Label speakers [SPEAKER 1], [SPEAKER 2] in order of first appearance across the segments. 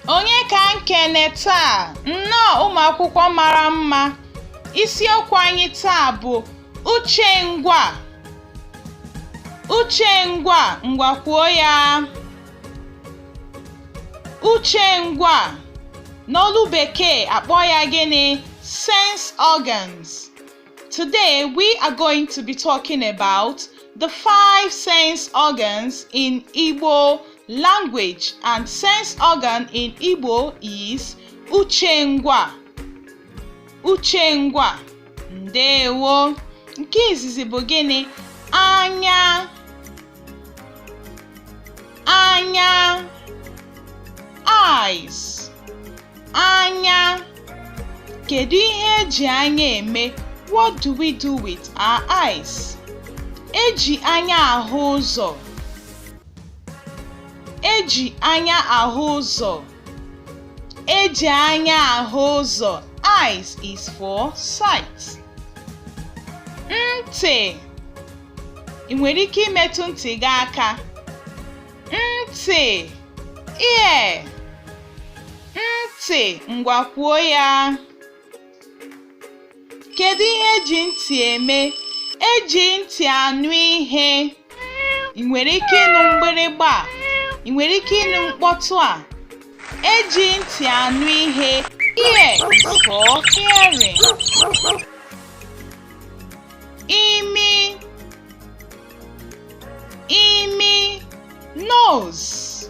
[SPEAKER 1] Onye ka m kene taa? Nnọọ ụmụ akwụkwọ mara mma. Isiokwu anyị taa bụ uche ngwa. Uche ngwa, ngwa kwuo ya. Uche ngwa n'olu bekee akpọ ya gịnị sense organs today we are going to be talking about the five sense organs in Igbo language and sense organ in Igbo is uche ngwa uche ngwa ndewo nke izizi bụ gịnị anya eyes anya kedu ihe eji anya eme what do we do with our eyes eji anya ahụ ụzọ eji anya ahụ ụzọ Eji anya ahụ ụzọ. Eyes is for sight. Ntị. Ị nwere ike imetụ ntị gị aka. Ntị. Ear. Ntị. Ngwa kwuo ya. Kedu ihe eji ntị eme? Eji ntị anụ ihe. Ị nwere ike ịnụ mgbịrịgba a? Ị nwere ike ịnụ mkpọtụ a? Eji ntị anụ ihe. Ear is for hearing. Imi Imi nose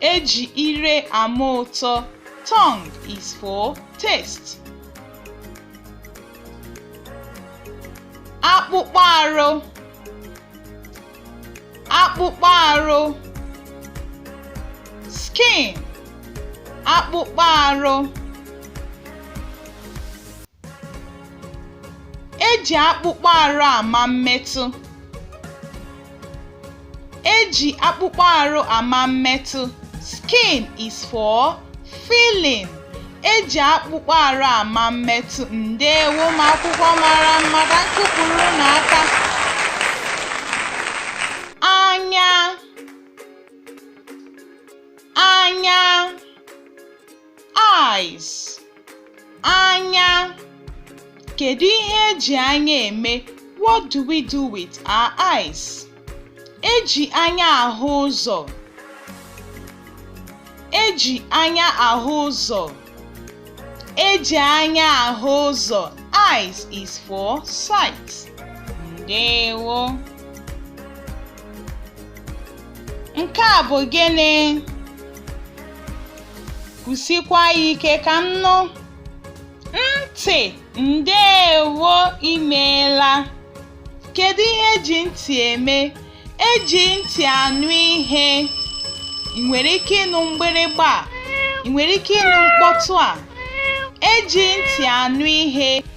[SPEAKER 1] Eji ire ama ụtọ. Tongue is for taste. Akpụkpọ arụ. Akpụkpọ arụ. Skin. Akpụkpọ arụ. Eji akpụkpọ arụ ama mmetụ. Eji akpụkpọ arụ ama mmetụ. Skin is for feeling. Eji akpụkpọ arụ ama mmetụ. Ndewo ụmụ akwụkwọ mara mma ka m kụpụrụ unu aka. Anya. Anya. eyes anya kedu ihe eji anya eme what do we do with our eyes eji anya ahụ ụzọ eji anya ahụ ụzọ eji anya ahụ ụzọ eyes is for sight ndewo Nke a bụ gịnị? Kwụsikwa ya ike ka m nụ. Ntị, ndeewo i meela. Kedu ihe eji ntị eme? Eji ntị anụ ihe. Ị nwere ike ịnụ mgbịrịgba a? Ị nwere ike ịnụ mkpọtụ a? Eji ntị anụ ihe.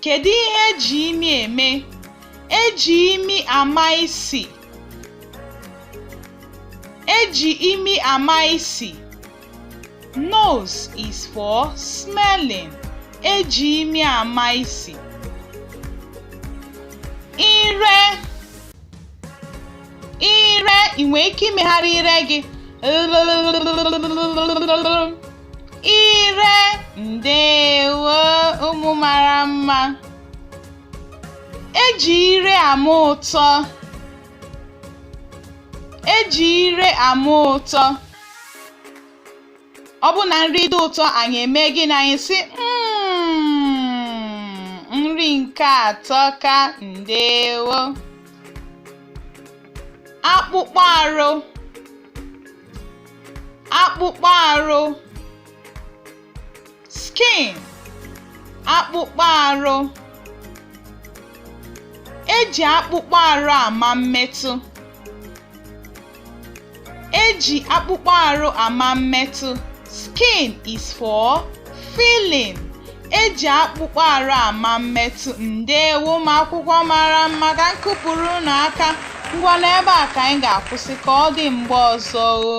[SPEAKER 1] Kedu ihe eji imi eme? Eji imi ama isi. Eji imi ama isi. Nose is for smelling. Eji imi ama isi. Ire ire ị nwere ike imegharị ire gị ire ndewo ụmụ mara mma eji ire ama ụtọ eji ire ama ụtọ ọ bụ na nri dị ụtọ anyị eme gịnị anyị sị hmm, nri nke a atọka ndewo akpụkpọ arụ akpụkpọ arụ skin akpụkpọ arụ eji akpụkpọ arụ ama mmetụ eji akpụkpọ arụ ama mmetụ Skin is for feeling. Eji akpụkpọ arụ ama mmetụ. Ndewo ụmụ akwụkwọ mara mma ka m kụpụrụ unu aka. Ngwa n'ebe a ka anyị ga-akwụsị ka ọ dị mgbe ọzọ o.